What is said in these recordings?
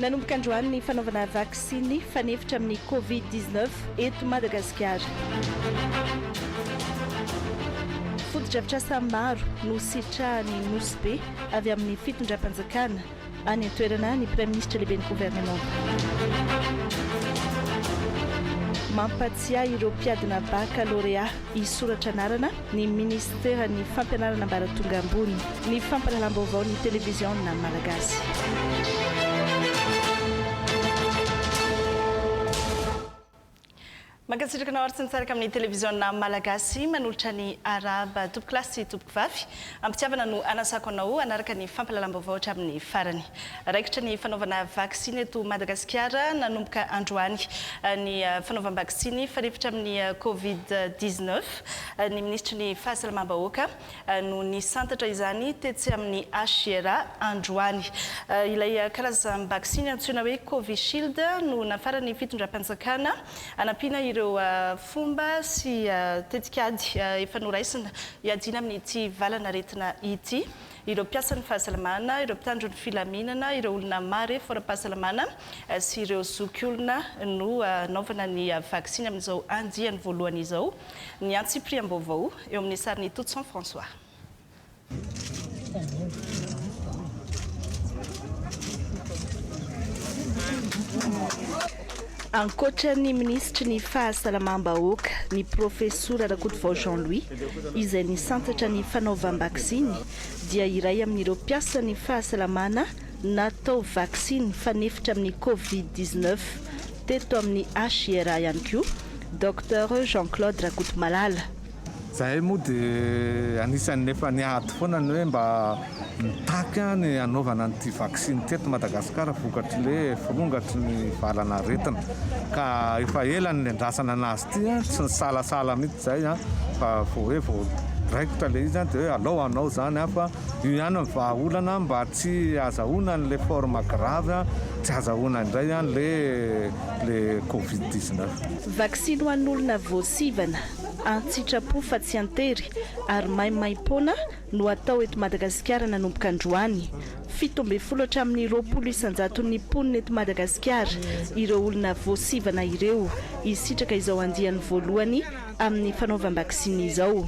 Nanomboka androany ny fanaovana vaksiny fanefitra amin'ny Covid dix neuf eto Madagasikara. Fotodrafitrasa maro no sitrahan'ny Nosy Be avy amin'ny fitondram-panjakana. any an-toerana ny Praiminisitra Lehiben'ny Governemanta. Mampatsiahy ireo mpiadina bakalorea hisoratra anarana ny Minisiteran'ny Fampianarana Ambaratonga Ambony, ny Fampahalalam-baovaon'ny Televiziona Malagasy. Mankasitraka anao ary tsy nitsaraka amin'ny televiziona malagasy manolotra ny Arab. Tompoko lahy sy tompoko vavy, am-pitiavana no anasako anao hanaraka ny fampahalalam-baovao hatramin'ny farany. Raikitra ny fanaovana vaksiny eto Madagasikara nanomboka androany ny fanaovam-baksiny fanefitra amin'ny Covid dix-neuf ny minisitry ny fahasalamam-bahoaka, no nisantatra izany tetsy amin'ny HJR androany. Ilay karazam-baksiny antsoina hoe Covishield no nafaran'ny fitondram-panjakana hanampiana ireo fomba sy tetikady efa noraisina hiadiana amin'ity valan'aretina ity ireo mpiasan'ny fahasalamana, ireo mpitandro ny filaminana, ireo olona marefo ara-pahasalamana sy ireo zokiolona no hanaovana ny vaksiny amin'izao andiany voalohany izao. ny antsipiriam-baovao eo amin'ny sarin'i Toutson François. Ankoatra ny minisitry ny Fahasalamam-bahoaka, ny profesora Rakotovao Jean Louis, izay nisantatra ny fanaovam-baksiny, dia iray amin'ireo mpiasan'ny fahasalamana, Natao vaksiny fanefitra amin'ny covid dix-neuf teto amin'ny HIRA ihany koa Docteur Jean Claude Rakotomalala. Izahay moa dia anisan'ny efa niady foana ny hoe mba mitaky ny hanaovana an'ity vaksiny ity eto Madagasikara vokatry le firongatry ny valan'aretina ka efa ela no niandrasana an'azy ity a, tsy nisalasala mihitsy izahay fa vao hoe vao raikitra le izy dia hoe alao hanao izany aho fa Io ihany ny vahaolana mba tsy azahoana an'ilay forme grave, tsy azahoana indray ilay covid dix neuf. Vaksiny ho an'olona voasivana, an-tsitrapo fa tsy an-tery ary maimaim-poana no hatao eto Madagasikara nanomboka androany. Fito ambin'ny folo hatramin'ny roapolo isan-jaton'ny mponina eto Madagasikara ireo olona voasivana ireo hisitraka izao andiany voalohany amin'ny fanaovam-baksiny izao.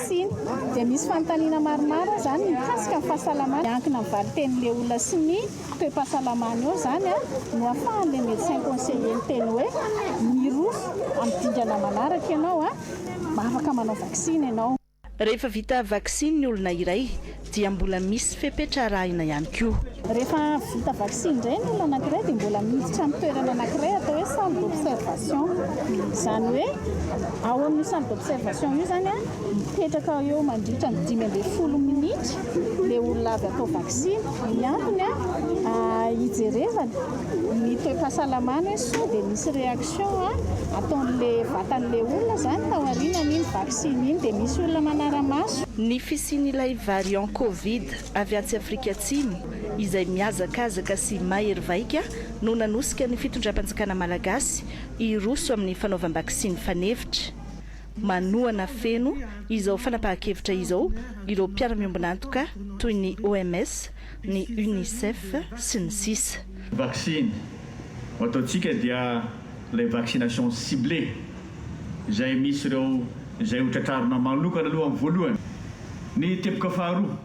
vaksiny dia misy fanontaniana maromaro izany mikasika ny fahasalamany, miankina amin'ny valitenin'ilay olona sy ny toe-pahasalamany eo izany no ahafahan'ilay médecin conseiller miteny hoe mirofo amin'ny dingana manaraka ianao, afaka manao vaksiny ianao. Rehefa vita vaksiny ny olona iray dia mbola misy fepetra arahina ihany koa. Rehefa vita vaksiny indray ny olona anankiray dia mbola miditra amin'ny toerana anankiray atao hoe salle d'observation. Izany hoe ao amin'io salle d'observation io izany mipetraka eo mandritra ny dimy ambin'ny folo minitra ilay olona avy atao vaksiny. Ny antony hijerevana ny toe-pahasalamany hoe sao dia misy réaction ataon'ilay vatan'ilay olona izany taorianan'iny vaksiny iny dia misy olona manara-maso. Ny fisian'ilay variant covid avy atsy Afrika Atsimo izay mihazakazaka sy mahery vaika no nanosika ny fitondram-panjakana malagasy hiroso amin'ny fanaovam-baksiny fanefitra. Manohana feno izao fanapahan-kevitra izao ireo mpiara-miombon'antoka toy ny OMS, ny Unicef sy ny sisa. Vaksiny ho ataontsika dia ilay vaccination ciblée izay misy ireo izay ho tratrarina manokana aloha amin'ny voalohany. Ny teboka faharoa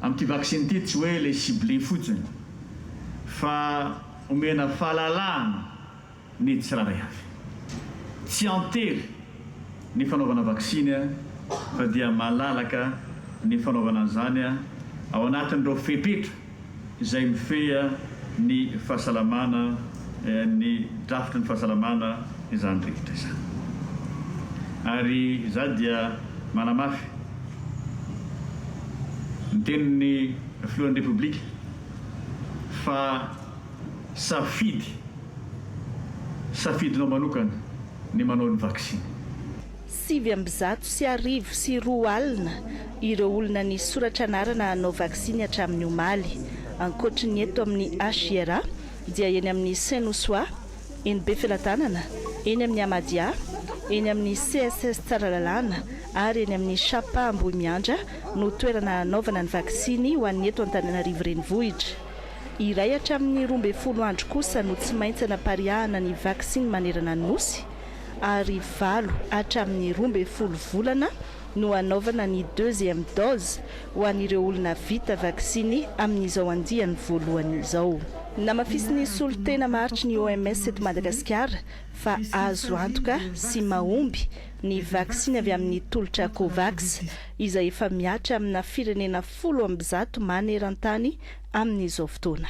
amin'ity vaksiny ity tsy hoe ilay ciblé fotsiny fa omena fahalalahana ny tsirairay avy. Tsy an-tery ny fanaovana vaksiny fa dia malalaka ny fanaovana an'izany ao anatin'ireo fepetra. izay mifehy ny fahasalamana ny drafitry ny fahasalamana izany rikitrra izany. Ary izaho dia manamafy ny tenin'ny Filohan'ny Repoblika fa safidy, safidinao manokana ny manao ny vaksiny. Sivy amby zato sy arivo sy roa alina ireo olona nisy soratra anarana hanao vaksiny hatramin'ny omaly. Ankoatry ny eto amin'ny HJRA dia eny amin'ny Saint Nouswa, eny Befelatanana, eny amin'ny Amadia, eny amin'ny CSS Tsaralalàna ary eny amin'ny Shapa Ambohimiandra no toerana hanaovana ny vaksiny ho an'ny eto Antananarivo Renivohitra. Iray hatramin'ny roa ambin'ny folo andro kosa no tsy maintsy hanapariahana ny vaksiny manerana ny Nosy. ary valo hatramin'ny roa ambin'ny folo volana no hanaovana ny deuxième dose ho an'ireo olona vita vaksiny amin'izao andiany voalohany izao. Namafisin'ny solontena maharitry ny OMS eto Madagasikara fa azo antoka sy mahomby ny vaksiny avy amin'ny tolotra Covax, izay efa mihatra amina firenena folo amby zato maneran-tany amin'izao fotoana.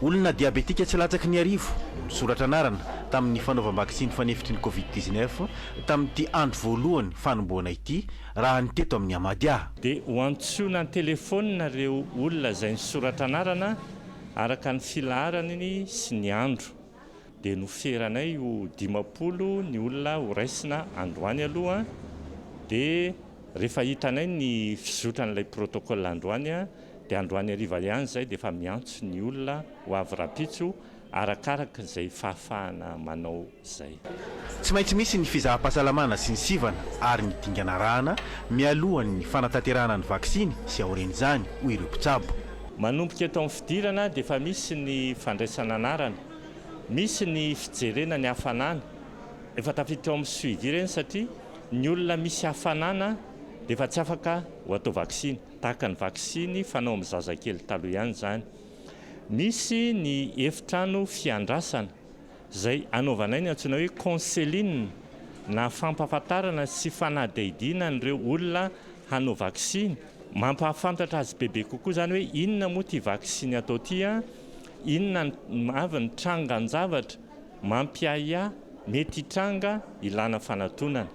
Olona diabetika tsy latsaky ny arivo no nisoratra anarana tamin'ny fanaovam-baksiny fanefitry ny Covid dix-neuf tamin'ity andro voalohany fanombohana ity, raha ny teto amin'ny Amadia. Dia ho antsoina an-telefaonina ireo olona izay nisoratra anarana araka ny filaharany sy ny andro. dia noferanay ho dimampolo ny olona ho raisina androany aloha dia rehefa hitanay ny fizotran'ilay protocole androany dia androany hariva ihany izay dia efa miantso ny olona ho avy rahampitso arakaraka izay fahafahana manao izay. Tsy maintsy misy ny fizaham-pahasalamana sy ny sivana ary ny dingana arahana mialohan'ny fanatanterahana ny vaksiny sy aorian'izany, hoy ireo mpitsabo. Manomboka eto amin'ny fidirana dia efa misy ny fandraisana anarana, misy ny fijerena ny hafanana, efa tafiditra ao amin'ny suivi ireny satria ny olona misy hafanana dia efa tsy afaka ho atao vaksiny, tahaka ny vaksiny fanao amin'ny zazakely taloha ihany izany. Misy ny efitrano fiandrasana. Izay anaovanay ny antsoina hoe counseling na fampahafantarana sy fanadihadiana an'ireo olona hanao vaksiny. Mampahafantatra azy bebe kokoa izany hoe inona moa ity vaksiny atao ity, inona avy ny trangan-javatra mampiahiahy mety hitranga ilana fanatonana.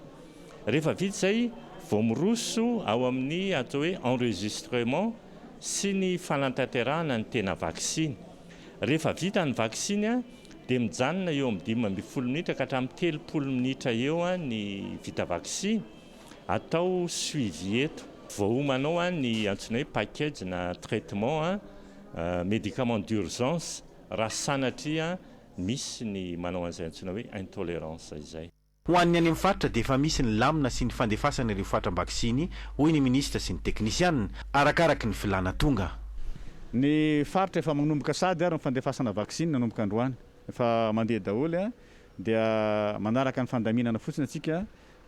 Rehefa vita izay vao miroso ao amin'ny atao hoe enregistrement sy ny fanatanterahana ny tena vaksiny. Rehefa vita ny vaksiny dia mijanona eo amin'ny dimy ambin'ny folo minitra ka hatramin'ny telopolo minitra eo ny vita vaksiny. Atao suivi eto. Voaomanao ny antsoina hoe package na traitement, médicament d'urgence, raha sanatria misy ny manao an'izay antsoina hoe intolerance izay. Ho an'ny any amin'ny faritra dia efa misy ny lamina sy ny fandefasana ireo fatram-baksiny, hoy ny minisitra sy ny teknisianina, arakaraky ny filàna tonga. Ny faritra efa manomboka sady ary ny fandefasana vaksiny nanomboka androany. Efa mandeha daholo, dia manaraka ny fandaminana fotsiny antsika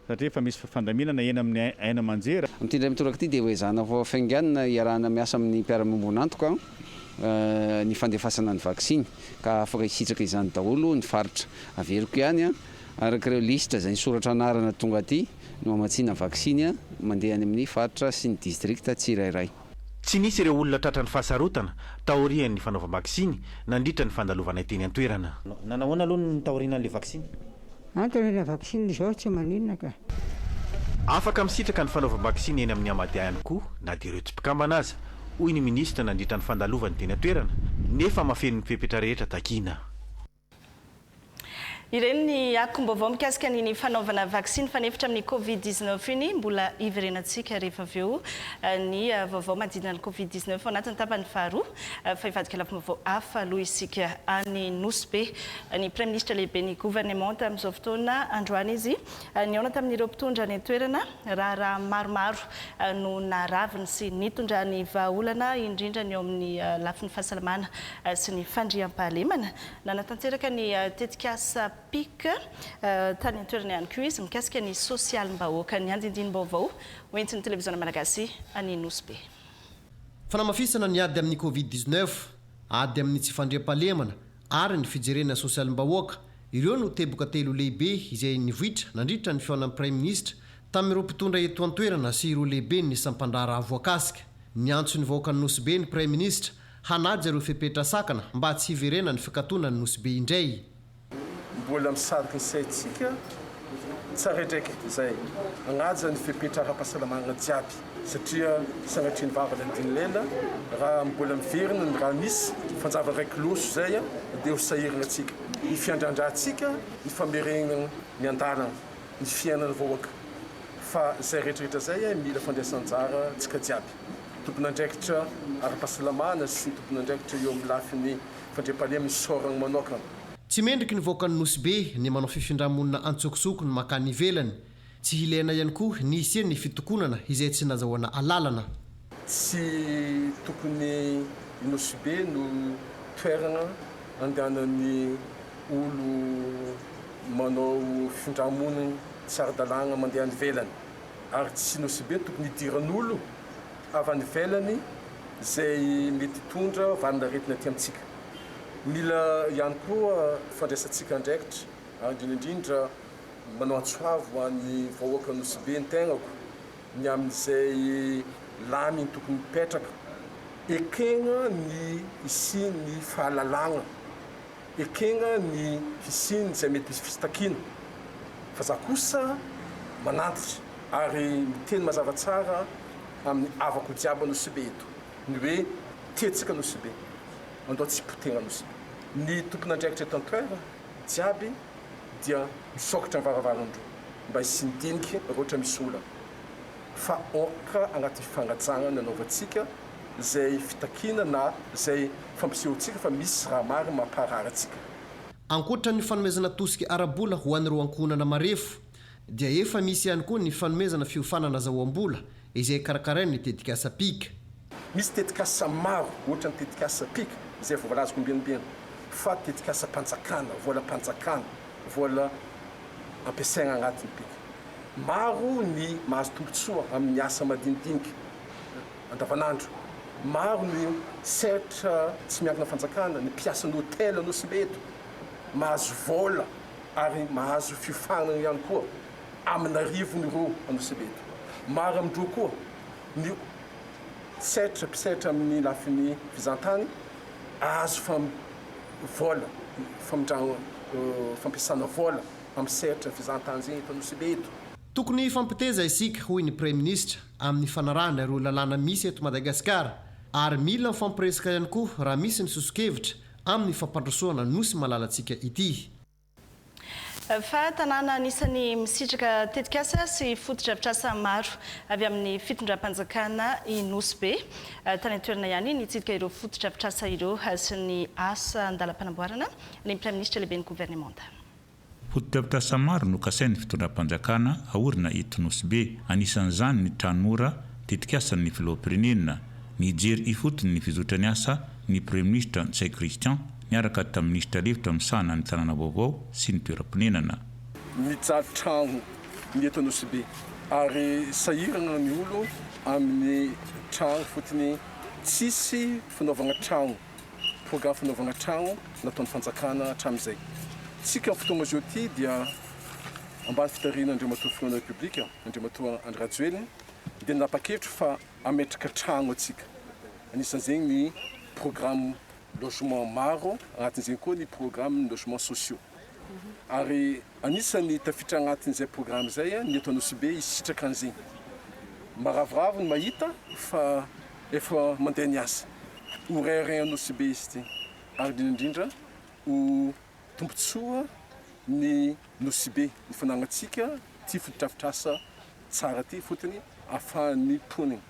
satria efa misy fandaminana eny amin'ny haino aman-jery. Amin'ity indray mitoraka ity dia hoezahana ho hafainganina hiarahana miasa amin'ny mpiara-miombon'antoka ny fandefasana ny vaksiny ka afaka hisitraka izany daholo ny faritra. Averiko ihany. Araka ireo lisitra izay nisoratra anarana tonga aty no hamatsiana vaksiny mandeha any amin'ny faritra sy ny distrikta tsirairay. Tsy nisy ireo olona tratran'ny fahasarotana taorian'ny fanaovam-baksiny nandritra ny fandalovanay teny an-toerana. Nanao ahoana aloha ny taoriana an'ilay vaksiny? Antony ilay vaksiny izao tsy maninona ka. Afaka misitraka ny fanaovam-baksiny eny amin'ny Amady ihany koa na dia ireo tsy mpikambana aza, hoy ny minisitra nandritra ny fandalovany teny an-toerana, nefa mahafeno ny fepetra rehetra takiana. Ireny ny akom-baovao mikasika ny ny fanaovana vaksiny fanefitra amin'ny Covid dix neuf iny. Mbola hiverenantsika rehefa avy eo ny vaovao manodidina ny Covid dix neuf ao anatin'ny tapany faharoa. Fa hivadika lafim-baovao hafa aloha isika any Nosy Be. Ny Praiminisitra lehiben'ny governemanta amin'izao fotoana androany izy Nihaona tamin'ireo mpitondra any an-toerana, raharaha maromaro no naraviny sy nitondrany vahaolana, indrindra ny eo amin'ny lafiny fahasalamana sy ny fandriampahalemana. Nanatanteraka ny tetikasa PIC tany an-toerana ihany koa izy mikasika ny sosialim-bahoaka. Ny andindinim-baovao hoentin'ny televiziona malagasy any Nosy Be. Fanamafisana ny ady amin'ny Covid dix-neuf, ady amin'ny tsy fandriampahalemana ary ny fijerena sosialim-bahoaka. Ireo no teboka telo lehibe izay nivoitra nandritra ny fihaonan'ny Praiminisitra tamin'ireo mpitondra eto an-toerana sy ireo lehiben'ny sampan-draharaha voakasika. Niantso ny vahoakan'i Nosy Be ny Praiminisitra hanaja ireo fepetra sakana mba tsy hiverenan'ny fikatonan'i Nosy Be indray. Mbola misarika ny saintsika. Tsara edraika izay manaja ny fepetra ara-pahasalamana jiaby satria sanatrian'ny vava ny adin'ny lela raha mbola miverina ny raha misy fanjava iray kiloso izay dia ho sahirana antsika ny fiandrandrahantsika ny famerenana ny andalana ny fiainana vahoaka fa izay retraretra izay mila fandraisanjara tsika jiaby tompon'andraikitra ara-pahasalamana sy tompon'andraikitra eo amin'ny lafiny fandriampahalemana isaorana manaokana. Tsy mendriky ny vahoakan'ny Nosy Be ny manao fifindra-monina antsokosoko ny mankany ivelany. Tsy hileana ihany koa ny hisian'ny fitokonana izay tsy nazahoana alalana. Tsy tokony i Nosy Be no toerana andehanan'ny olo manao fifindra-monina tsy ara-dalàna mandeha any ivelany. Ary tsy Nosy Be tokony hidiran'olo avy any ivelany izay mety hitondra valin'aretina aty amintsika. Mila ihany koa fandraisantsika andraikitra, indrindra indrindra manao antso avo ho an'ny vahoakan'i Nosy-Be ny tenako, ny amin'izay laminy tokony hipetraka. Ekena ny hisian'ny fahalalagna, ekena ny hisian'izay mety hisy fitakiana, fa za kosa manantitra ary miteny mazava tsara amin'ny havako jiaby Nosy-Be eto, ny hoe, Tetsaka Nosy-Be. andao tsy poteha nosy. Ny tompon'andraikitra eto an-toerana jiaby dia misokatra ny varavaran-droa mba hisian'ny dinika raha ohatra misy olana. Fa aoka anatin'ny fanajana ny anaovantsika izay fitakiana na izay fampisehoantsika fa misy raha marina mampaharary antsika. Ankoatra ny fanomezana tosika ara-bola ho an'ireo ankohonana marefo dia efa misy ihany koa ny fanomezana fiofanana zaoam-bola izay karakarain'ny tetikasa Pic. Misy tetikasa maro, ohatra ny tetikasa PIC, izay voalazako ombienibieny, fa tetikasam-panjakana, volam-panjakana, vola ampiasaina anatin'ny PIC. Maro ny mahazo tombontsoa amin'ny asa madinidinika andavanandro. Maro ny sehatra tsy miankina fanjakana, ny mpiasan'ny hotely Anosibe eto, mahazo vola ary mahazo fiofanana ihany koa amin'arivony roa Anosibe eto. Maro amin-dreo koa ny. setra mpisetra amin'ny lafiny fizahantany azo fam vola famindran fampiasana vola amin'ny sehatra fizahantany izay eto Nosy-Be eto. Tokony hifampiteza isika, hoy ny Praiminisitra, amin'ny fanarahana ireo lalàna misy eto Madagasikara ary mila mifampiresaka ihany koa raha misy ny soso-kevitra amin'ny fampandrosoana Nosy malalantsika ity. Fa tanàna anisan'ny misitraka tetikasa sy fotodrafitrasa maro avy amin'ny fitondram-panjakana i Nosy Be. Tany an-toerana ihany nitsidika ireo fotodrafitrasa ireo sy ny asa an-dalam-panamboarana ny Praiminisitra Lehiben'ny Governemanta. Fotodrafitrasa maro no kasain'ny fitondram-panjakana aorina eto Nosy Be. Anisan'izany ny Tranora, tetikasan'ny Filoham-pirenena. Nijery ifotony ny fizotran'ny asa ny Praiminisitra Ntsay Christian. niaraka tamin'ny minisitra lefitra misahana ny tanàna vaovao sy ny toeram-ponenana. Mijaly trano ny eto Anosibe ary sahirana ny olo amin'ny trano fotony tsisy fanaovana trano, programme fanaovana trano nataon'ny fanjakana hatramin'izay. Tsiky amin'ny fotoana zao ity dia ambany fitariana Andriamatoa Filohan'ny Repoblika, Andriamatoa Andry Rajoelina dia nanapa-kevitra fa hametraka trano antsika. Anisan'izay ny programme. logement maro, anatin'izay koa ny programme ny logements sociaux. Ary anisan'ny tafiditra anatin'izay programme izay ny eto Anosibe hisitraka an'izegny. Maravoravo ny mahita fa efa mandeha ny asa. Ho reharehan'Anosibe izy ity ary indrindra indrindra ho. tombontsoa ny Nosy-be ny fananantsika ity fotodrafitrasa tsara ity fotony afahan'ny mponina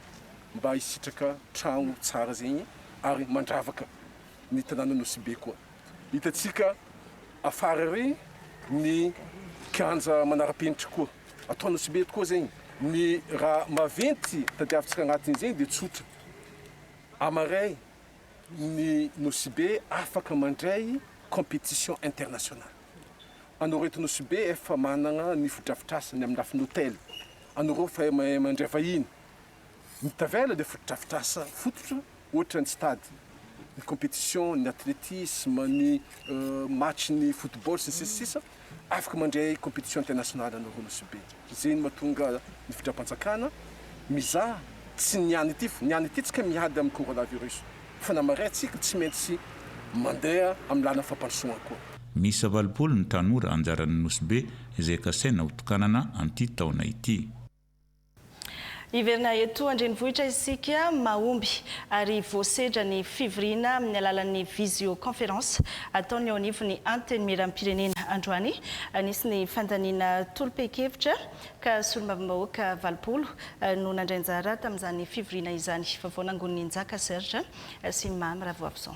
mba hisitraka trano tsara zegny ary mandravaka ny tanàna Nosy-be koa hitantsika afara ary ny kianja manara-penitra koa atao Nosy-be eto koa zegny ny raha maventy tadiavintsika agnatin'izegny de tsotra amaray ny Nosibe afaka mandray competition international. Anao reto Nosibe efa managna ny fotodrafitrasany amin'ny lafiny hotel, anao reo efa mahay mandray vahiny, ny tavela le fotodrafitrasa fototra ohatra ny stade, ny competition, ny athletisme, ny match ny football sy ny sisa sisa. afaka mandray competition internationale anao ho Nosy be, zay no mahatonga ny fitram-panjakana mizaha tsy ny any ity, ny any ity tsika miady amin'ny coronavirus fa na maray tsika tsy maintsy mandeha amin'ny lalan'ny fampandrosoana koa. Miisa valopolo ny tanora anjaran'ny Nosy be izay kasaina hotokanana an'ity taona ity. Hiverina eto an-drenivohitra isika mahomby ary voasedra ny fivoriana amin'ny alalan'ny visioconférence ataon'ny eo anivon'ny Antenimierampirenena androany. Nisy ny fandaniana tolom-pehikevitra ka solombavambahoaka valopolo no nandray anjara tamin'izany fivoriana izany. Vaovao nangonin'i Njaka Serge sy Mamy Ravoavison.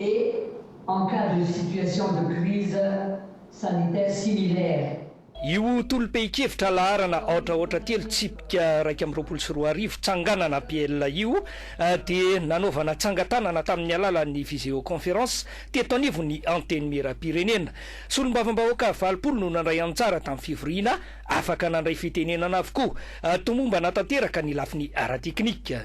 et en cas de situation de crise sanitaire similaire. Io tolom-pehin-kevitra laharana aotra aotra telo tsipika iraika amby roapolo sy roa arivo, tsanganana APL, io dia nanaovana tsangan-tanana tamin'ny alalan'ny viseoconférence teto anivon'ny Antenimierampirenena. Solombavambahoaka valopolo no nandray anjara tamin'ny fivoriana, afaka nandray fitenenana avokoa. Tomombana tanteraka ny lafiny ara-teknika.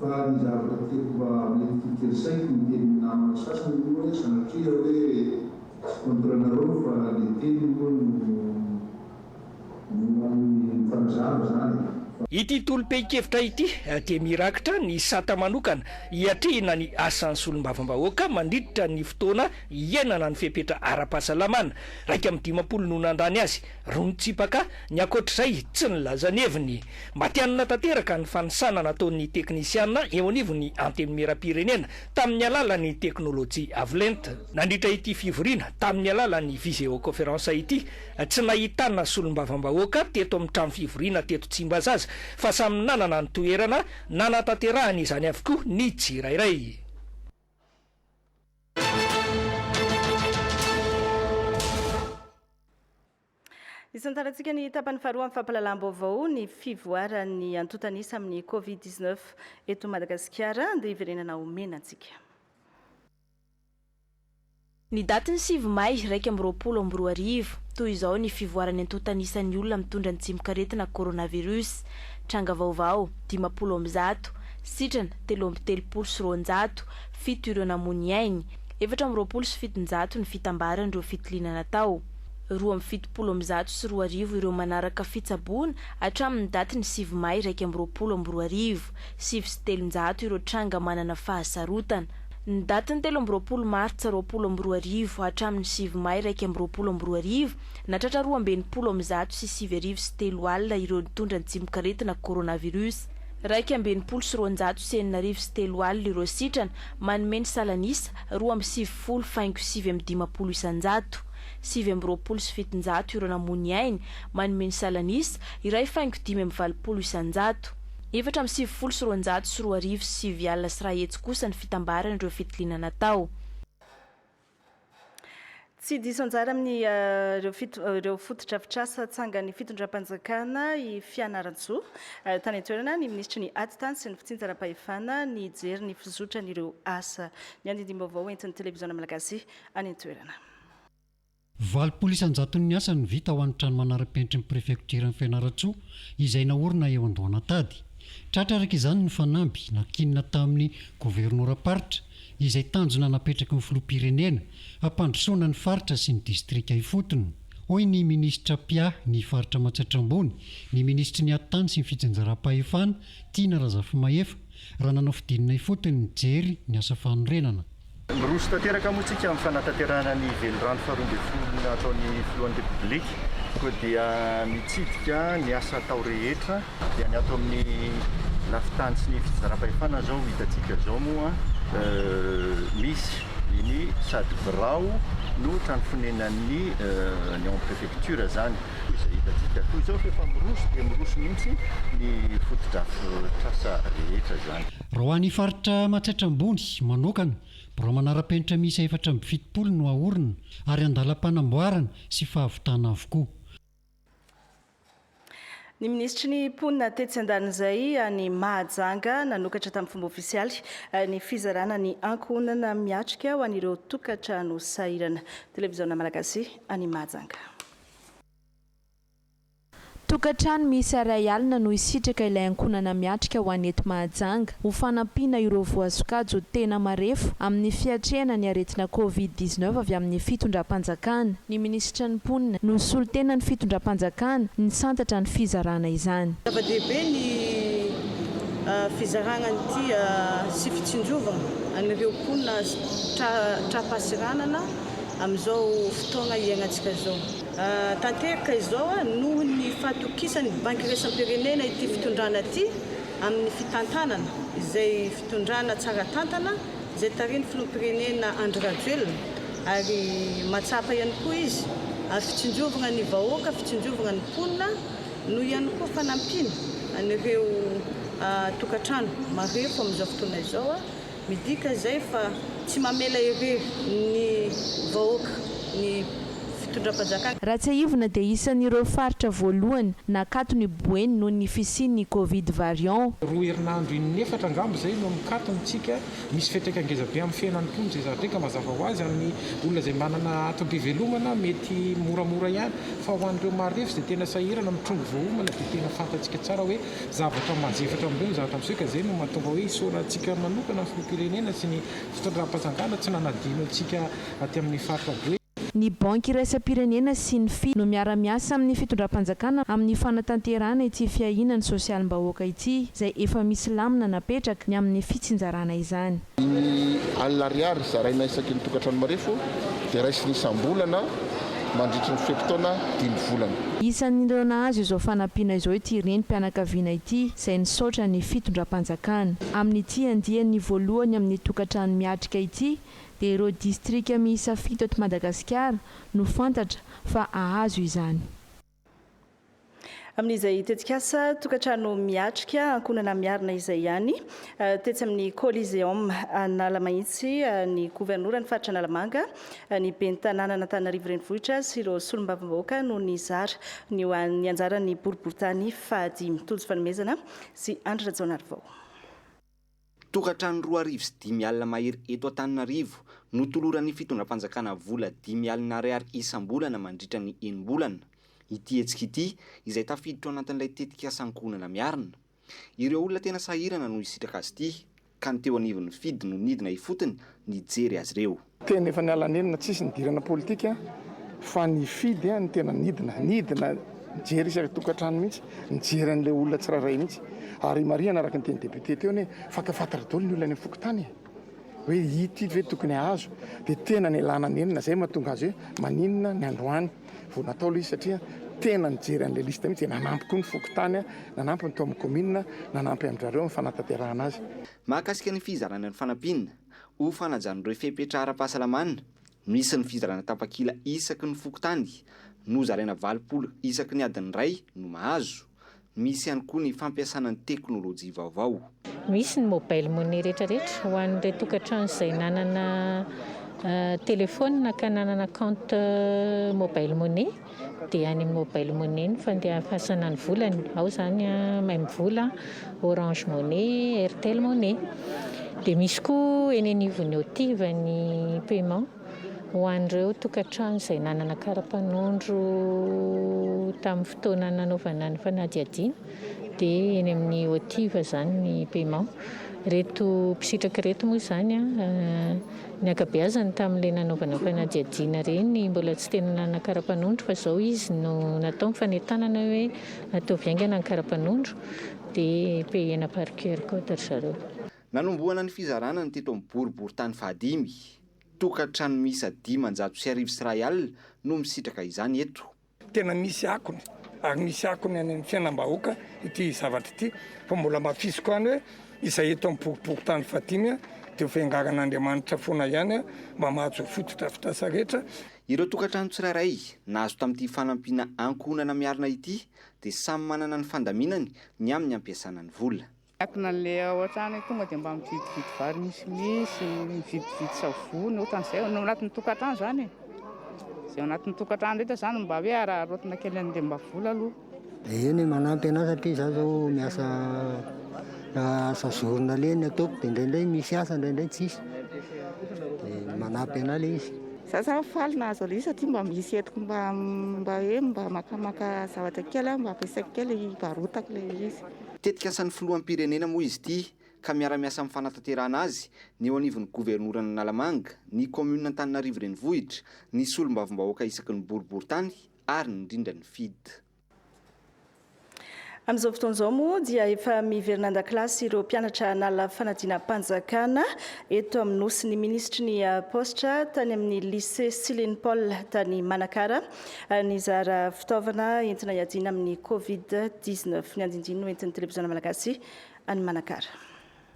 Fa ny zavatra tiako mba hamely toky an-tsaiko ny tenin'ny namana sasany aloha hoe sanatria hoe tsy contre anareo fa le teniny moa no no mpanazava zany e. Fa. Ity tolom-pehin-kevitra ity dia mirakitra ny sata manokana hiatrehina ny asan'ny solombavambahoaka mandritra ny fotoana hiainana ny fepetra ara-pahasalamana, iraika amby dimampolo no nandany azy, Roa mitsipaka ny ankoatr'izay tsy nilazan'ny heviny. Matihanina tanteraka ny fanisana nataon'ny teknisiana eo anivon'ny Antenimierampirenena tamin'ny alalan'ny teknolojia Avlent. Nandritra ity fivoriana tamin'ny alalan'ny viseoconference ity, tsy nahitana solombavambahoaka teto amin'ny trano fivoriana teto Tsimbazaza fa samy nanana ny toerana nanatanterahany izany avokoa ny tsirairay. Isantarantsika ny tapany faharoa amin'ny fampahalalam-baovao ny fivoaran'ny antontanisa amin'ny Covid-19 eto Madagasikara. Andeha hiverenana ho mena antsika. Ny datin'ny sivy May iraika amby roapolo amby roa arivo, toy izao ny fivoaran'ny antontan'isan'ny olona mitondra ny tsimokaretina coronavirus, tranga vaovao, dimampolo amby zato, sitrana, telo amby telopolo sy roanjato, fito ireo namoy ny ainy, efatra amby roapolo sy fitonjato ny fitambaran'ireo fitiliana natao, roa amby fitopolo amby zato sy roa arivo ireo manaraka fitsaboana hatramin'ny datin'ny sivy May iraika amby roapolo amby roa arivo, sivy sy telonjato ireo tranga manana fahasarotana. Ny datin'ny telo amby roapolo martsa roapolo amby roa arivo hatramin'ny sivy may iraika amby roapolo amby roa arivo, nahatratra roa amby enimpolo amin'ny zato sy sivy arivo sy telo alina ireo nitondra ny tsimokaretina coronavirus. Iraika amby enimpolo sy roanjato sy enina arivo sy telo alina ireo sitrana, manome ny salan'isa roa amby sivifolo faingo sivy amby dimampolo isanjato. Sivy amby roapolo sy fitonjato ireo namoy ny ainy, manome ny salan'isa iray faingo dimy amby valopolo isanjato. Efatra amby sivifolo sy roanjato sy roa arivo sy sivy alina sy iray hetsy kosa ny fitambaran'ireo fitiliana natao. Tsy diso anjara amin'ireo fotodrafitrasa tsangan'ny fitondram-panjakana i Fianarantsoa. Tany an-toerana ny minisitry ny Atitany sy ny fitsinjaram-pahefana nijery ny fizotran'ireo asa. Ny andindim-baovao entin'ny televiziona malagasy any an-toerana. Valopolo isan-jaton'ny asa no vita ho an'ny trano manara-penitry ny prefektiran'i Fianarantsoa izay naorina eo Andohanantady. Tratra araka izany ny fanamby nankinina tamin'ny governoram-paritra izay tanjona napetraky ny filoham-pirenena hampandrosoana ny faritra sy ny distrika ifotony, hoy ny minisitra mpiahy ny faritra Matsiatra Ambony, ny minisitry ny Atitany sy ny fitsinjaram-pahefana, Tiana Razafimahefa, raha nanao fidinina ifotony nijery ny asa fanorenana. Miroso tanteraka moa isika amin'ny fanatanterahana ny Velirano faharoa ambin'ny folo nataon'ny Filohan'ny Repoblika koa dia mitsidika ny asa atao rehetra dia ny ato amin'ny lafin-tany sy ny fitsinjaram-pahefana izao hitantsika izao moa misy ny sady birao no trano fonenan'ny ny en prefecture izany. Koa izay hitantsika toy izao rehefa miroso dia miroso mihitsy ny fotodrafitrasa rehetra izany. Raha ho an'ny faritra Matsiatra Ambony manokana, birao manara-penitra miisa efatra amby fitopolo no haorina ary an-dalam-panamboarana sy fahavitana avokoa. Ny minisitry ny Mponina tetsy an-danin'izay any Mahajanga nanokatra tamin'ny fomba ofisialy ny fizarana ny ankohonana miatrika ho an'ireo tokantrano sahirana. Televiziona Malagasy any Mahajanga. Tokantrano miisa iray alina no hisitraka ilay ankohonana miatrika ho any eto Mahajanga ho fanampiana ireo voasokajy tena marefo amin'ny fiatrehana ny aretina covid dix-neuf avy amin'ny fitondram-panjakana. Ny minisitry ny mponina no solontenan'ny fitondram-panjakana nisantatra ny fizarana izany. Zava-dehibe ny fizarana an'ity sy fitsinjovana an'ireo mponina tra-tra-pasiranana amin'izao fotoagna iaignantsika izao. Tanteraka izao noho ny fahatokisan'ny Banky Iraisam-pirenena ity fitondrana ity amin'ny fitantanana izay fitondrana tsara tantana izay tarihin'ny Filoham-pirenena Andry Rajoelina ary mahatsapa ihany koa izy ary fitsinjovagna ny vahoaka, fitsinjovagna ny mponina noho ihany koa fanampiana an'ireo tokantrano marefo amin'izao fotoana izao. Midika izay fa tsy mamela irery ny vahoaka ny fitondram-panjakana. Raha tsiahivina dia isan'ireo faritra voalohany nakato ny Boeny noho ny fisian'ny Covid variant. Roa herinandro in'efatra angamba izay no mikato ny tsika. Misy fetr'aika ngeza be amin'ny fiainan'ny mponina izay zary dreka mazava ho azy amin'ny olona izay manana atom-pivelomana mety moramora ihany. Fa ho an'ireo marefo izay tena sahirana mitrongy voaomana dia tena fantatsika tsara hoe Zavatra manjery hatramin'izao ny zavatra miseho ka izay no mahatonga hoe isaorantsika manokana ny filoham-pirenena sy ny fitondram-panjakana tsy nanadino antsika aty amin'ny faritra be. Ny Banky iraisam-pirenena sy ny fii no miara-miasa amin'ny fitondram-panjakana amin'ny fanatanterahana ity fiahiana ny sosialim-bahoaka ity izay efa misy lamina napetraka ny amin'ny fitsinjarana izany. Ny alina ariary zaraina isaky ny tokantrano marefo dia raisina isam-bolana mandritry ny fe-potoana dimy volana. Isan'ireo nahazo izao fanampiana izao ity renim-pianakaviana ity izay nisaotra ny fitondram-panjakana. Amin'ity andiany voalohany amin'ny tokantrano miatrika ity dia ireo distrika miisa fito eto Madagasikara no fantatra fa hahazo izany. Amin'izay tetikasa tokantrano miatrika ankohonana miarina izay ihany, tetsy amin'ny Coliseum Analamahitsy, ny governoran'ny faritra Analamanga, ny ben'ny tanànan'Antananarivo Renivohitra sy ireo solombavambahoaka no nizara ny ho an'ny anjaran'ny boriborintany fahadimy. Tojo Fanomezana sy Andry Rajaonarivao. Tokantrano roa arivo sy dimy alina mahery eto Antananarivo, notoloran'ny fitondram-panjakana vola dimy alina ariary isam-bolana mandritra ny enim-bolana, ity hetsika ity, izay tafiditra ao anatin'ilay tetikasa Ankohonana Miarina. Ireo olona tena sahirana no hisitraka azy ity, ka ny teo anivon'ny FIDD no nidina ifotony nijery azy ireo. Tena efa niala nenina tsisy nidirana politika fa nifidy no tena nidina, nidina nijery isaky tokantrano mihitsy, nijery an'ilay olona tsirairay mihitsy. Ary imarihana araka ny teny député teo anie fantafantatra daholo ny olona any fokontany e! hoe ito ito ve tokony hahazo, dia tena nialana nenina zay mahatonga azy hoe maninona ny androany vao natao ilay izy satria tena nijery an'ilay liste mihitsy dia nanampy koa ny fokontany, nanampy ny tao amin'ny commune, nanampy amin-drareo amin'ny fanatanterahana azy. Mahakasika ny fizarana ny fanampiana. Ho fanajan'ireo fepetra ara-pahasalamana, misy ny fizarana tapakila isaky ny fokontany, nozaraina valopolo isaky ny adiny iray no mahazo. Misy ihany koa ny fampiasana ny teknolojia vaovao. Misy ny mobile money retraretra ho an'ireo tokantrano izay nanana telefaonina ka nanana compte mobile money. dia any amin'ny mobile money ny fandefasana ny volany, ao izany Mvola, Orange Money, Airtel Money. Dia misy koa eny anivon'ny OTIV ny paiement ho an'ireo tokantrano izay nanana kara-panondro tamin'ny fotoana nanaovana ny fanadihadiana, dia eny amin'ny OTIV izany ny paiement. Ireto mpisitraka ireto moa izany Ny ankabeazany tamin'ilay nanaovana fanadihadiana ireny mbola tsy tena nanana karapanondro fa izao izy no natao ny fanentanana hoe ataovy haingana ny karapanondro dia payena par QR code ry zareo. Nanombohana ny fizarana ny teto amin'ny boriborintany fahadimy. Tokantrano miisa dimanjato sy arivo sy iray alina no misitraka izany eto. Tena misy akony ary misy akony any amin'ny fiainam-bahoaka ity zavatra ity fa mbola mafisiko any hoe izay eto amin'ny boriborintany fahadimy dia ho fiangaran'Andriamanitra foana ihany mba mahazo ho fotodrafitrasa rehetra. Ireo tokantrano tsirairay nahazo tamin'ity fanampiana ankohonana miarina ity dia samy manana ny fandaminany ny amin'ny hampiasana ny vola. Miankina an'ilay ao an-trano, tonga dia mba mividividy vary misimisy, mividividy savony, ohatran'izay, ao anatin'ny tokantrano izany e. Izay ao anatin'ny tokantrano rehetra izany no mba hoe araraotina kely an'ilay mba vola aloha. Dia eny manampy anà satria izaho izao miasa asa zorona le ny ataoko, dia indraindray misy asa, indraindray tsisy, dia manampy anà le izy. Izaho izany faly nahazo an'ilay izy satria mba misy entiko mba mba hoe mba makamaka zavatra kely aho mba ampiasaiko kely, hivarotako ilay izy. Tetik'asan'ny Filoham-pirenena moa izy ity ka miara-miasa amin'ny fanatanterahana azy ny eo anivon'ny Governoran'Analamanga, ny Kaominina Antananarivo Renivohitra, ny Solombavambahoaka isaky ny Boriborintany ary indrindra ny FIDH. Amin'izao fotoana izao moa dia efa miverina an-dakilasy ireo mpianatra nala fanadinam-panjakana eto amin'ny Nosy ny Minisitry ny Paositra tany amin'ny Lycée Silene Paul tany Manakara. nizara fitaovana entina hiadiana amin'ny Covid dix neuf. Ny andinindiny no entin'ny Televiziona Malagasy any Manakara.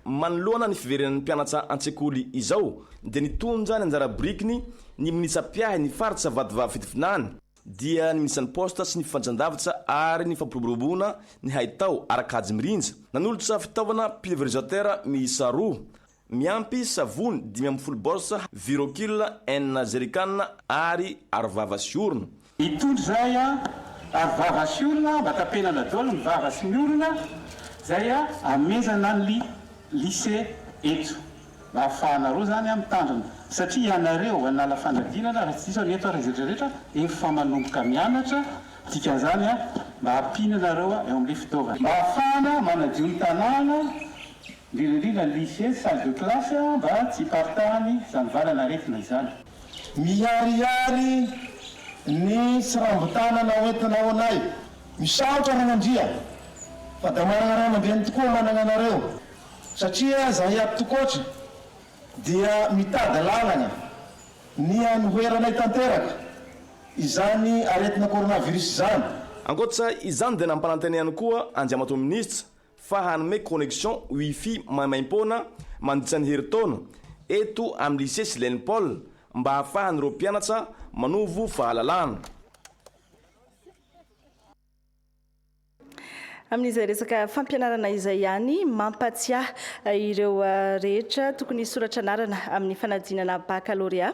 Manoloana ny fiverenan'ny mpianatra an-tsekoly izao dia nitondra ny anjara birikiny ny minisa mpiahy ny faritra Vatovavy Fitovinany dia ny minisan'ny Poste sy ny Fifandraisandavitra ary ny Fampiroboroboana ny haitao ara-kajy mirindra nanolotra fitaovana pulverisateur miisa roa Miampy savony dimy ambin'ny folo bols Virokill enina jerrycan ary arovava sy orona. Itondry izay a! Arovava sy orona mba tapenana daholo ny vava sy ny orona izay a! Amezana ny lycée eto mba ahafahanareo izany a mitandrina satria ianareo hanala fanadinana raha tsy diso aho ny eto ary izay rehetra efa manomboka mianatra dikan'izany a mba ampiana anareo eo amin'ilay fitaovana mba ahafahana manadio ny tanàna Indrindra indrindra ny lycée sy salle de classe mba tsy hiparitahan'ny zanivalana aretina izany. Miharihary ny tsirambotanana hoentina ao anay. Misaotra Ragnandria fa da managna ray aman-dreny tokoa managna anareo satria zahay ato Tokotry dia mitady lalagna ny anoheranay tanteraka izany aretina coronavirus izany. Ankoatra izany dia nampanantena ihany koa Andriamatoa Minisitra fa hanome connexion wifi maimaim-poana mandritra ny herintaona eto amin'ny Lycée Silène Paul mba hahafahan'ireo mpianatra manovo fahalalahana. Amin'izay resaka fampianarana izay ihany, mampatsiahy ireo rehetra tokony hisoratra anarana amin'ny fanadinana bakalorea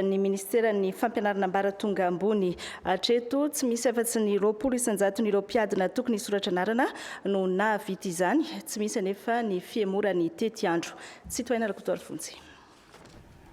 ny Ministeran'ny Fampianarana Ambaratonga Ambony. Hatreto, tsy misy afa-tsy ny roapolo isan-jaton'ireo mpiadina tokony hisoratra anarana no nahavita izany. Tsy misy anefa ny fihemorany tetiandro. Tsy tohaina Rakotoarivo Vonjy.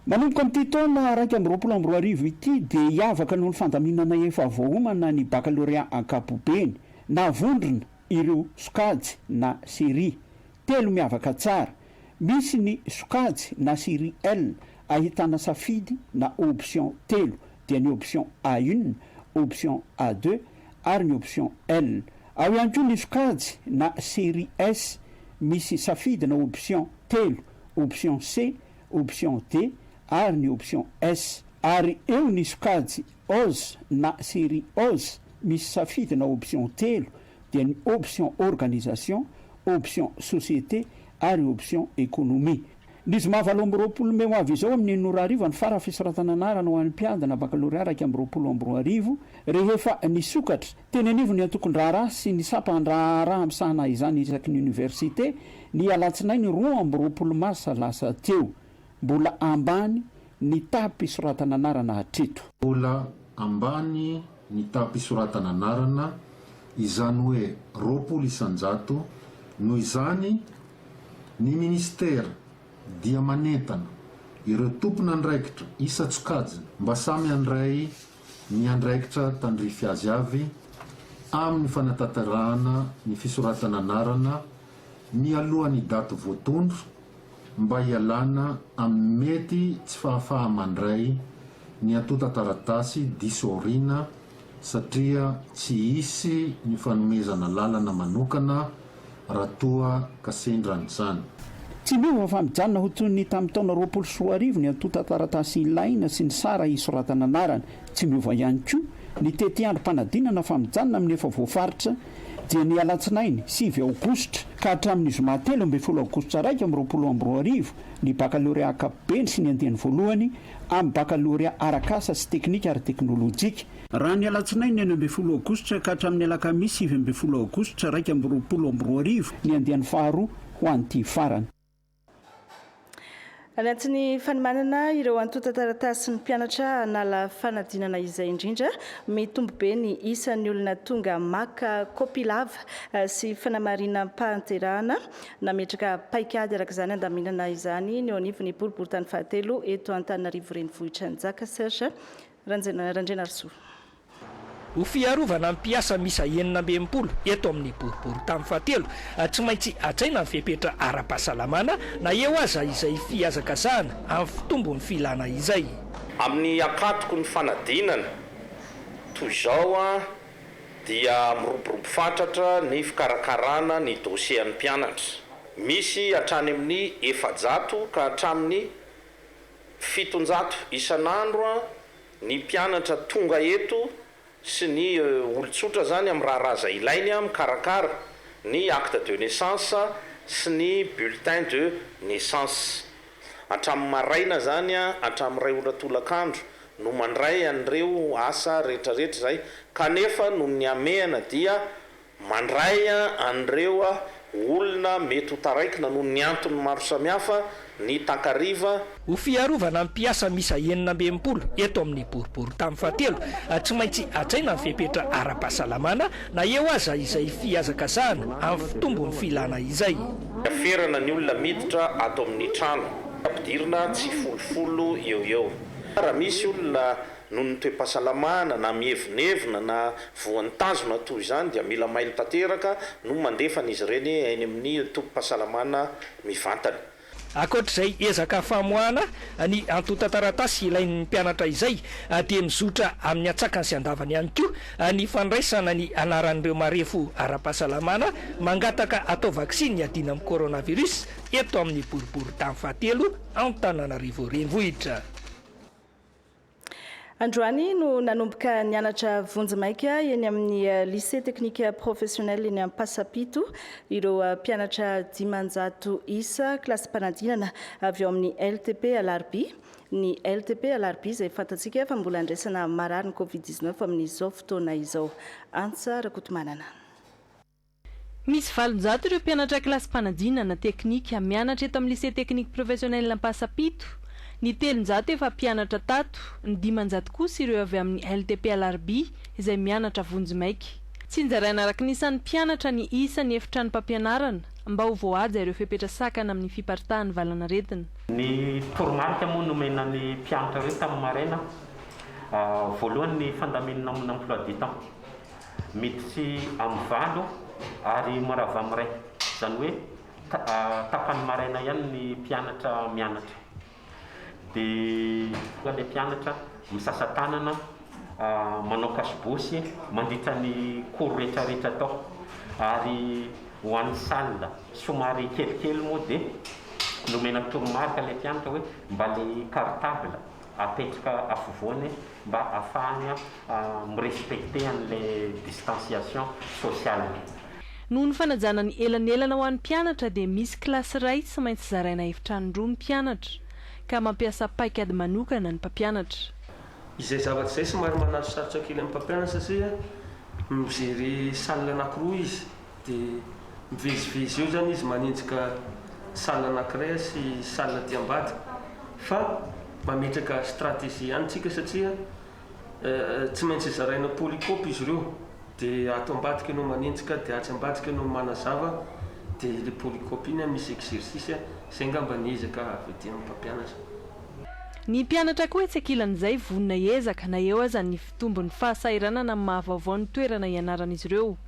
Manomboka amin'ity taona iraika amby roapolo amby roa arivo ity dia hiavaka noho ny fandaminana efa voaomana ny bakalorea ankapobeny. Navondrona ireo sokajy na série. Telo miavaka tsara. Misy ny sokajy na serie L ahitana safidy na option telo dia ny option A une, option A deux ary ny option L. Ao ihany koa ny sokajy na serie S misy safidy na option telo, option C, option D ary ny option S. Ary eo ny sokajy Oz na serie Oz misy safidy na option telo dia ny option organisation, option société ary option économie. Ny zoma valo amby roapolo mey ho avy izao amin'ny enina ora hariva ny fara fisoratana anarana ho an'ny mpiadina bakalorea iraika amby roapolo amby roa arivo rehefa nisokatra teny anivon'ny antokon-draharaha sy ny sampan-draharaha misahana izany isaky ny oniversite ny alatsinainy roa amby roapolo marsa lasa teo. Mbola ambany ny taham-pisoratana anarana hatreto. Mbola ambany ny taha-pisoratana anarana, izany hoe roapolo isan-jato, noho izany, ny Minisitera dia manentana ireo tompon'andraikitra isan-tsokajiny mba samy handray ny andraikitra tandrify azy avy amin'ny fanatanterahana ny fisoratana anarana mialohan'ny daty voatondro mba hialana amin'ny mety tsy fahafaha-mandray ny antontan-taratasy diso aoriana satria tsy hisy ny fanomezana lalana manokana raha toa ka sendra an'izany. Tsy miova fa mijanona ho toy ny tamin'ny taona roapolo sy roa arivo ny antontan-taratasy ilaina sy ny sara hisoratana anarana. Tsy miova ihany koa ny tetiandrom-panadinana fa mijanona amin'ny efa voafaritra dia ny alatsinainy sivy aogositra ka hatramin'ny zoma telo ambin'ny folo aogositra iraika amby roapolo amby roa arivo ny bakalorea ankapobeny sy ny andiany voalohany amin'ny bakalorea arak'asa sy teknika ary teknolojika. Raha ny alatsinainy enina ambin'ny folo aogositra ka hatramin'ny alakamisy sivy ambin'ny folo aogositra iraika amby roapolo amby roa arivo ny andiany faharoa ho an'ity farany. Anaty ny fanomanana ireo antontan-taratasin'ny mpianatra hanala fanadinana izay indrindra, mitombo be ny isan'ny olona tonga maka kopia lava eh, sy fanamarinam-panterahana. Nametraka paikady araka izany handaminana izany ny eo anivon'ny boriborintany fahatelo eto Antananarivo Renivohitra Njaka Serge Randrianarisoa. Ho fiarovana ny mpiasa miisa enina amby enimpolo eto amin'ny boriborintany fahatelo, tsy maintsy hajaina ny fepetra ara-pahasalamana na eo aza izay fihazakazahana amin'ny fitombon'ny filana izay. Amin'ny ankatoky ny fanadinana toy izao dia miroborobo fatratra ny fikarakarana ny dosiean'ny mpianatra. Misy hatrany amin'ny efajato ka hatramin'ny fitonjato isan'andro. Ny mpianatra tonga eto sy ny olon-tsotra izany amin'ny raharaha izay ilainy mikarakara ny acte de naissance sy ny bulletin de naissance. Hatramin'ny maraina izany hatramin'ny iray ora tolakandro no mandray an'ireo asa rehetrarehetra izay kanefa noho ny hamehana dia Mandray an'ireo olona mety ho taraikina noho ny antony maro samihafa ny takariva. Ho fiarovana ny mpiasa miisa enina amby enimpolo eto amin'ny boriborintany fahatelo, tsy maintsy hajaina ny fepetra ara-pahasalamana na eo aza izay fihazakazahana amin'ny fitombon'ny filana izay. Hiaferana ny olona miditra ato amin'ny trano, ampidirina tsifolofolo eo ho eo. Raha misy olona Noho ny toe-pahasalamana na mievonevona na voan'ny tanjona toa izany dia mila mailo tanteraka no mandefa an'izy ireny eny amin'ny tobim-pahasalamana mivantana. Ankoatr'izay ezaka famoahana ny antontan-taratasy ilain'ny mpianatra izay dia mizotra amin'ny antsakany sy andavany ihany koa ny fandraisana ny anaran'ireo marefo ara-pahasalamana mangataka atao vaksiny hiadiana amin'ny coronavirus eto amin'ny boriboritany fahatelo Antananarivo Renivohitra. Androany no nanomboka nianatra vonjimaika eny amin'ny Lycée Technique Professionnel eny Ampasapito ireo mpianatra dimanjato isa kilasim-panadinana avy ao amin'ny LTP Alarobia. Ny LTP Alarobia izay fantatsika fa mbola andraisana marary ny Covid-19 amin'izao fotoana izao. Antsa Rakotomanana. Misy valonjato ireo mpianatra kilasy mpanadinana, teknika, mianatra eto amin'ny Lycée Technique Professionnel Ampasapito. Ny telonjato efa mpianatra tato, ny dimanjato kosa ireo avy amin'ny LTP Alarobia izay mianatra vonjimaika. Tsinjaraina araka ny isan'ny mpianatra ny isan'ny efitranom-pampianarana mba ho voahaja ireo fepetra sakana amin'ny fiparitahan'ny valanaretina. Ny toromarika moa nomena ny mpianatra ireo tamin'ny maraina voalohany ny fandaminana amin'ny emploi du temps. Miditry amin'ny valo ary mirava amin'ny iray. Izany hoe tapany maraina ihany ny mpianatra mianatra. Dia ilay mpianatra misasa tanana, manao kasobosy mandritra ny cours rehetrarehetra atao. Ary ho an'ny salle somary kelikely moa dia nomena toromarika ilay mpianatra hoe mba ilay cartable. apetraka afovoany mba afahany mi respecter an'ilay distanciation sociale. Noho ny fanajana ny elanelana ho an'ny mpianatra dia misy kilasy iray tsy maintsy zaraina efitrano roa ny mpianatra ka mampiasa paikady manokana ny mpampianatra. Izay zavatra izay somary manasosarotra kely amin'ny mpampianatra satria mijery salle anankiroa izy Dia mivezivezy eo izany izy manenjika salle anankiray sy salle aty ambadika. Fa mametraka stratégie ihany tsika satria tsy maintsy zaraina polycope izy ireo. Dia ato ambadika ianao manenjika dia atsy ambadika ianao manazava dia ilay polycope iny misy exercice, izay angamba ny ezaka avy aty amin'ny mpampianatra. Ny mpianatra koa etsy ankilan'izay vonona hiezaka na eo aza ny fitombon'ny fahasahiranana amin'ny maha vaovao ny toerana ianaran'izy ireo.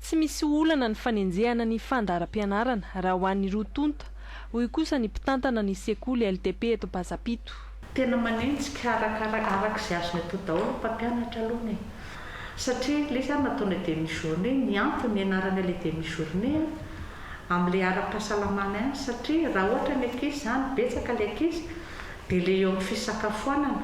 Tsy misy olana ny fanenjehana ny fandaharam-pianarana raha ho an'ny roa tonta, hoy kosa ny mpitantana ny sekoly LTP eto Bazapito. Tena manenjika araka araka izay azony atao daholo ny mpampianatra alona e! Satria ilay izy ary nataonay demi journée, ny antony nianaranay ilay demi journée an, amin'ilay ara-pahasalamana ihany satria raha ohatra ny ankizy izany, betsaka ilay ankizy, dia ilay eo amin'ny fisakafoanana,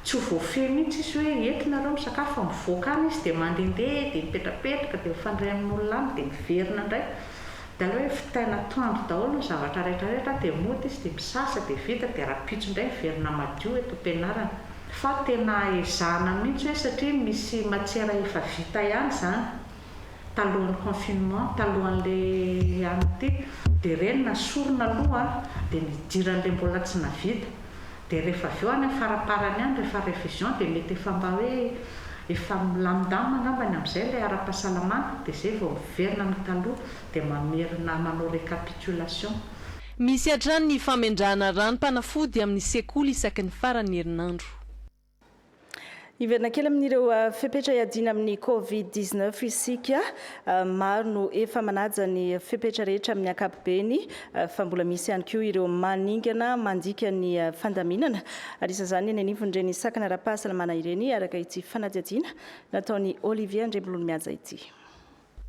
Tsy ho voafehy mihitsy izy hoe eto nareo misakafo fa mivoaka any izy dia mandehandeha dia mipetrapetraka dia mifandray amin'olona any dia miverina indray. Dia aleo hoe vitaina atoandro daholo ny zavatra rehetrarehetra dia mody izy dia misasa dia vita dia rahampitso indray miverina madio eto am-pianarana. Fa tena ezahana mihitsy hoe satria misy matiera efa vita ihany izany. talohan'ny confinement talohan'ilay an'ity dia ireny nasorona aloha dia nidiran'ilay mbola tsy navita dia rehefa avy eo any amin'ny faraparany any rehefa révision dia mety efa mba hoe efa milamindamina angambany amin'izay ilay ara-pahasalamana dia izay vao miverina amin'ny taloha dia mamerina manao récapitulation. Misy hatrany ny famendrahana ranom-panafody amin'ny sekoly isaky ny faran'ny herinandro. Hiverina kely amin'ireo ah, fepetra iadiana amin'ny Covid 19 isika. Ah, maro no efa manaja ny fepetra rehetra amin'ny ankapobeny ah, fa mbola misy ihany koa ireo maningana mandika ny fandaminana. Ary isan'izany eny anivon'ireny sakana ara-pahasalamana ireny, araka ity fanadihadiana nataon'i Olivier Andriambololimihaja ity.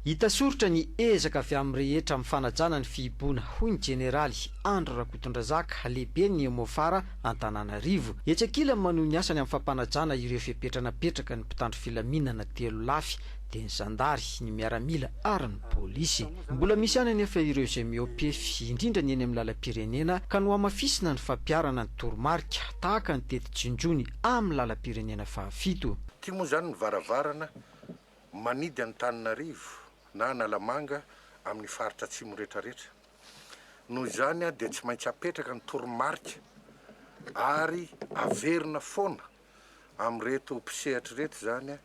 Hita soritra ny ezaka avy amin'ny rehetra amin'ny fanajana ny fihiboana, hoy ny Jeneraly Andry Rakotondrazaka, lehiben'ny Emofara Antananarivo. Etsy ankilany manohy ny asany amin'ny fampanajana ireo fepetra napetraka ny mpitandro filaminana telo lafy, dia ny zandary, ny miaramila ary ny polisy. Mbola misy ihany anefa ireo izay mihoa-pefy, indrindra ny eny amin'ny lalam-pirenena, ka nohamafisina ny fampiharana ny toromarika, tahaka ny teti-jinjony amin'ny lalam-pirenena fahafito. Ity moa izany ny varavarana Manidy Antananarivo na Analamanga amin'ny faritra atsimo rehetrarehetra. Noho izany dia tsy maintsy apetraka ny toromarika ary averina foana amin'ireto mpisehatra ireto izany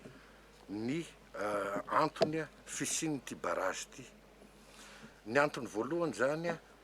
ny antony fisian'ity barrage ity. Ny antony voalohany izany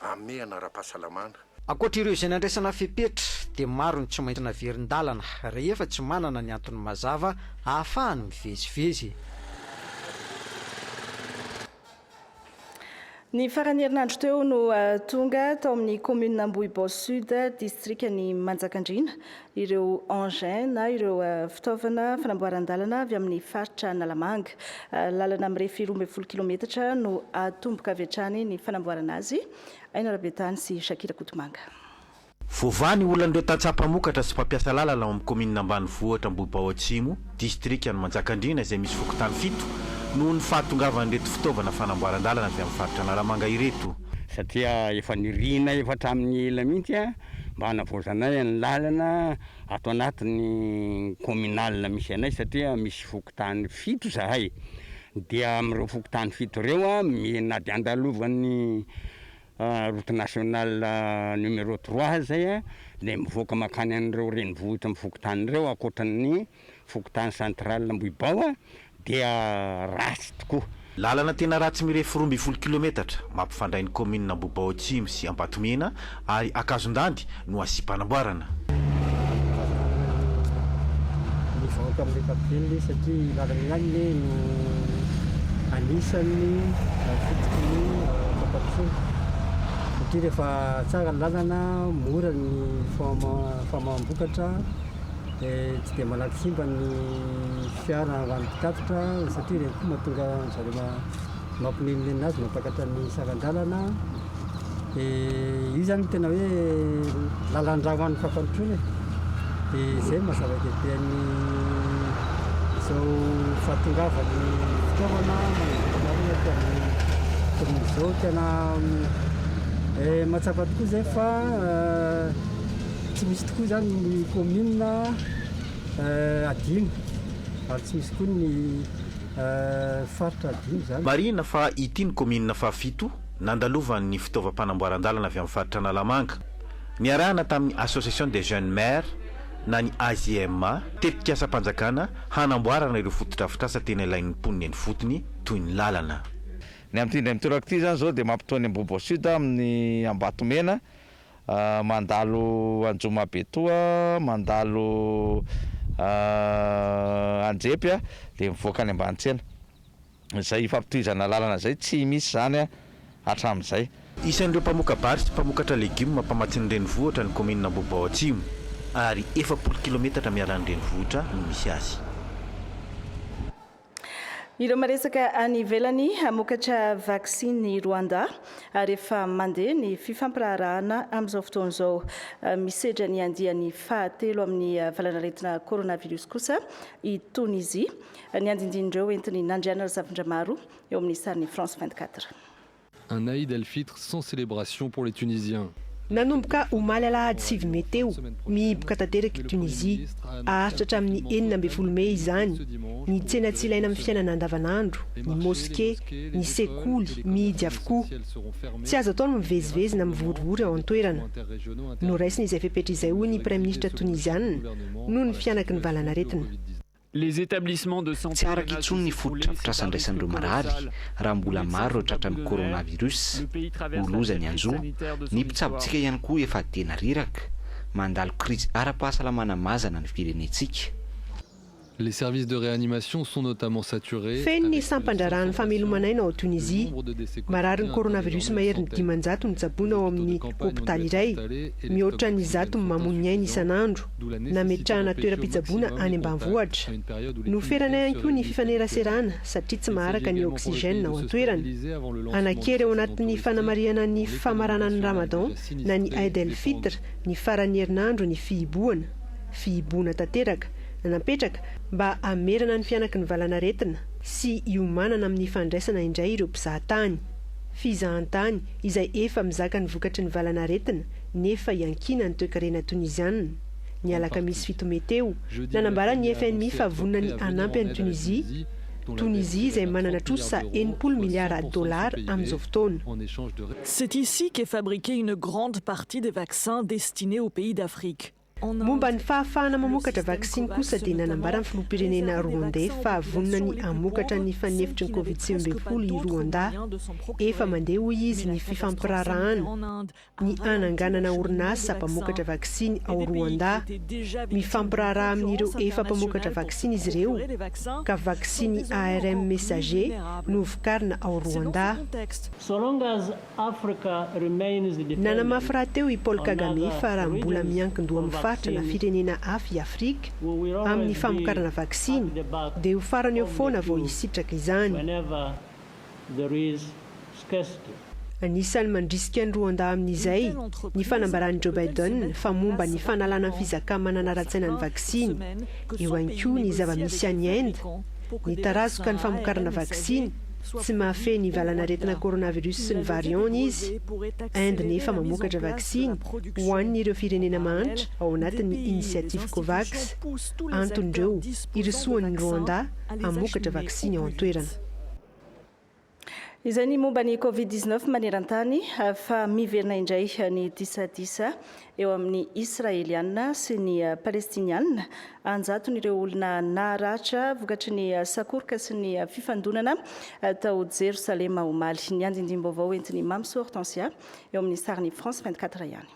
Hamehana ara-pahasalamana. Ankoatra ireo izay nandraisana fepetra dia maro ny tsy maintsy naverin-dalana rehefa tsy manana ny antony mazava ahafahany mivezivezy. Ny faran'ny herinandro teo no tonga tao amin'ny kaominina Ambohibao Sud, distrikan'i Manjakandriana, ireo engins na ireo fitaovana fanamboaran-dalana avy amin'ny faritra Analamanga. Lalana mirefy roa ambin'ny folo kilometatra no atomboka avy hatrany ny fanamboarana azy. Aina Rabetany sy Shakira Kotomanga. Voavaha ny olan'ireo tantsaha mpamokatra sy mpampiasa lalana ao amin'ny kaominina ambanivohitra Ambohibao Atsimo, distrikan'i Manjakandriana izay misy fokontany fito noho ny fahatongavan'ireto fitaovana fanamboaran-dalana avy amin'ny faritra Analamanga ireto. Satria efa nirinay efa hatramin'ny ela mihitsy mba hanavaozanay ny lalana ato anatin'ny communal misy anay satria misy fokontany fito zahay dia amin'ireo fokontany fito ireo na dia andalovan'ny route nationale numéro trois aza dia mivoaka mankany an'ireo renivohitra amin'ny fokontany ireo ankoatra ny Fokontany Central Ambohibaoa dia ratsy tokoa. Lalana tena ratsy mirefy roa ambin'ny folo kilometatra mampifandray ny kaominina Ambohibaoa Atsimo sy Ambatomena ary Ankazondandy no asiam-panamboarana. Mivaoka amin'ny ankapobeny ve satria io lalana io ihany ve no anisan'ny fototra ny fampandrosoana satria rehefa tsara ny lalana mora ny famaham-bokatra. Tsy dia malaky simba ny fiara ho an'ny mpitatitra satria ireny koa mahatonga an-dry zareo ma- mampilenileny azy, mampiakatra ny saran-dalana. Dia io izany no tena hoe lalan-drà ho an'ny fampandrosoana e. Dia izay no maha-zava-dehibe an'ny izao fahatongavan'ny fitaovana manodidina anay aty amin'ny kaominina izao. Tena mahatsapa tokoa izay fa Tsy misy tokoa izany ny kaominina adino ary tsy misy koa ny faritra adino izany. Marihina fa ity no kaominina fahafito nandalovan'ny fitaovam-panamboaran-dalana avy amin'ny faritra Analamanga. Niarahana tamin'ny Association des Jeunes Maires na ny AJMA, tetikasam-panjakana hanamboarana ireo fotodrafitrasa tena ilain'ny mponina eny ifotony toy ny lalana. Ny amin'ity indray mitoraka ity izany izao dia mampitohy ny Ambohiboasud amin'ny Ambatomena. Mandalo Anjomabetoa, mandalo Andrepy a, dia mivoaka any Ambanitsiena. Izay ifampitohizana lalana izay tsy misy izany hatramin'izay. Isan'ireo mpamoka-bary sy mpamokatra legioma mpamatsiny renivohitra ny kaominina Ambohibao Atsimo, ary efapolo kilometatra miala ny renivohitra no misy azy. Ireo maresaka any ivelany hamokatra vaksiny i Rwanda ary efa mandeha ny fifampiraharahana amin'izao fotoana izao. Misedra ny andiany fahatelo amin'ny valanaretina coronavirus kosa i Tonizia. Ny andindin'ireo entiny Nandriana Razafindramaro eo amin'ny sarin'ny France 24. Un Aïd El Fitr sans célébration pour les Tunisiens. Nanomboka omaly alahady sivy mey teo, mihiboka tanteraka i Tunisie, haharitra hatramin'ny enina ambin'ny folo mey izany, ny tsena tsy ilaina amin'ny fiainana andavanandro, ny moske, ny sekoly, mihidy avokoa. Tsy azo atao ny mivezivezy na mivorivory ao an-toerana. Noraisina izay fepetra izay hoy ny Praiminisitra Toniziana noho ny fihanaky ny valanaretina. Tsy araka intsony ny fotodrafitrasa andraisan'ireo marary raha mbola maro ireo tratran'ny coronavirus. Ho loza ny anjo. Ny mpitsabontsika ihany koa efa tena reraka. Mandalo krizy ara-pahasalamana mazana ny firenentsika. Feno ny sampan-draharahan'ny fameloman'aina ao Tunisia. Mararin'ny coronavirus maherin'ny dimanjato no tsaboina ao amin'ny hopitaly iray. Mihoatra ny zato no mamoy ny ainy isan'andro. Nametrahana toeram-pitsaboana any ambanivohitra. Noferana ihany koa ny fifaneraserana satria tsy maharaka ny oxygène ao an-toerana. Hanan-kery ao anatin'ny fanamarihana ny famaranan'ny Ramadan na ny Eid el-Fitr ny faran'ny herinandro ny fihibohana. Fihibohana tanteraka, napetraka mba hamerana ny fihanaky ny valanaretina sy hiomanana amin'ny fandraisana indray ireo mpizahatany. Fizahantany izay efa mizaka ny vokatry ny valanaretina nefa iankiana ny toekarena Toniziana. Ny alakamisy fito mey teo, nanambara ny fmi fa vonona ny hanampy an'i Tunisia, Tunisia izay manana trosa enimpolo miliara dolara amin'izao fotoana. C'est ici qu'est fabriquée une grande partie des vaccins destinés aux pays d'Afrique. Momba ny fahafahana mamokatra vaksiny kosa dia nanambara ny filoham-pirenena Rwandais fa vonona ny hamokatra ny fanefitry ny Covid sivy ambin'ny folo i Rwanda. Efa mandeha hoy izy ny fifampiraharahana ny hananganana orinasa mpamokatra vaksiny ao Rwanda. Mifampiraharaha amin'ireo efa mpamokatra vaksiny izy ireo ka vaksiny ARM Messager no vokarina ao Rwanda. Africa remains dependent. Nanamafy rahateo i Paul Kagame fa raha mbola miankin-doha amin'ny faritra na firenena hafa i Afrika amin'ny famokarana vaksiny dia ho farany eo foana vao hisitraka izany. Anisan'ny mandrisika an'i Rwanda amin'izay ny fanambaran'i Joe Biden fa momba ny fanalana ny fizakà-manana ara-tsaina ny vaksiny. Eo ihany koa ny zava-misy any Inde, nitarazoka ny famokarana vaksiny. Tsy mahafehy ny valan'aretina coronavirus sy ny variant-ny izy. Inde nefa mamokatra vaksiny ho an'ireo firenena mahantra ao anatin'ny inisiativy Covax. Anton'ireo, irosoan'ny Rwanda hamokatra vaksiny ao an-toerana. Izay ny momba ny Covid dix-neuf maneran-tany. Fa miverina indray ny disadisa eo amin'ny Israeliana sy ny Palestiniana, an-jaton'ireo olona naratra vokatry ny sakoroka sy ny fifandonana tao Jerosalema omaly. Ny andindim-baovao entin'i Mamy sy Hortensia eo amin'ny sarin'i France 24 ihany.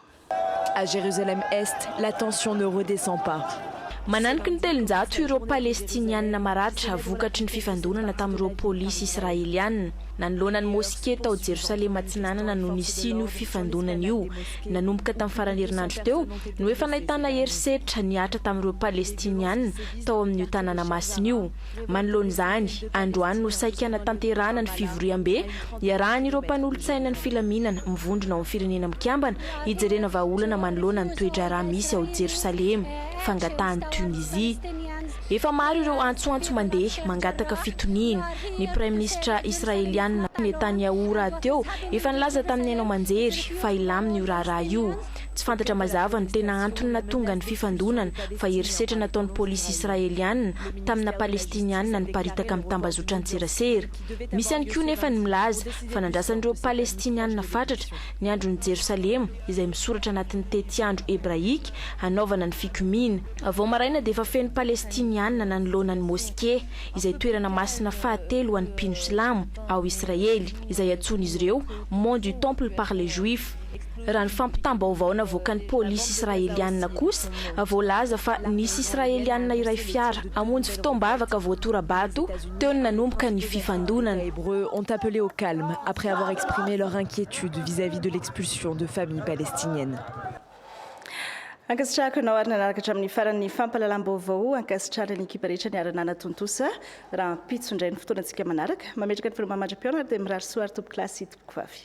À Jérusalem Est, la tension ne redescend pas. Mananiky ny telonjato ireo Palestiniana maratra vokatry ny fifandonana tamin'ireo polisy Israeliana, nanoloana ny moske tao Jerosalema Atsinanana no nisian'io fifandonana io. Nanomboka tamin'ny faran'ny herinandro teo no efa nahitana herisetra nihatra tamin'ireo Palestiniana tao amin'io tanàna masina io. Manoloana izany, androany no saiky hanatanterahana ny fivoriambe iarahan'ireo mpanolotsainan'ny filaminana mivondrona ao amin'ny Firenena Mikambana hijerena vahaolana manoloana ny toe-draharaha misy ao Jerosalema, fangatahan'i Tunisie. Efa maro ireo antsoantso mandeha mangataka fitoniana. Ny praiminisitra Israeliana, Netanyahu rahateo efa nilaza tamin'ny haino aman-jery fa hilamina io raharaha io. Tsy fantatra mazava ny tena antony nahatonga ny fifandonana fa herisetra nataon'ny polisy Israeliana tamina Palestiniana niparitaka amin'ny tambazotran-tserasera. Misy ihany koa nefa ny milaza fa nandrasan'ireo Palestiniana fatratra ny andron'i Jerosalema izay misoratra anatin'ny tetiandro hebraika hanaovana ny fikomiana. Vao maraina dia efa feno Palestiniana nanoloana ny Moske, izay toerana masina fahatelo ho an'ny mpino silamo ao Israely, izay antsoin'izy ireo Mont du Temple par les Juifs. Raha ny fampitam-baovao navoakan'ny polisy Israeliana kosa, voalaza fa nisy Israeliana iray fiara hamonjy fotoam-bavaka voatora-bato teo no nanomboka ny fifandonana. Ankasitrahako ianao ary nanaraka hatramin'ny farany ny fampahalalam-baovao. Ankasitrahana ny ekipa rehetra niara-nanatontosa. Rahampitso indray ny fotoanantsika manaraka. Mametraka ny filma mandra-pihaona ary dia mirary soa ary tompokolahy sy tompokovavy.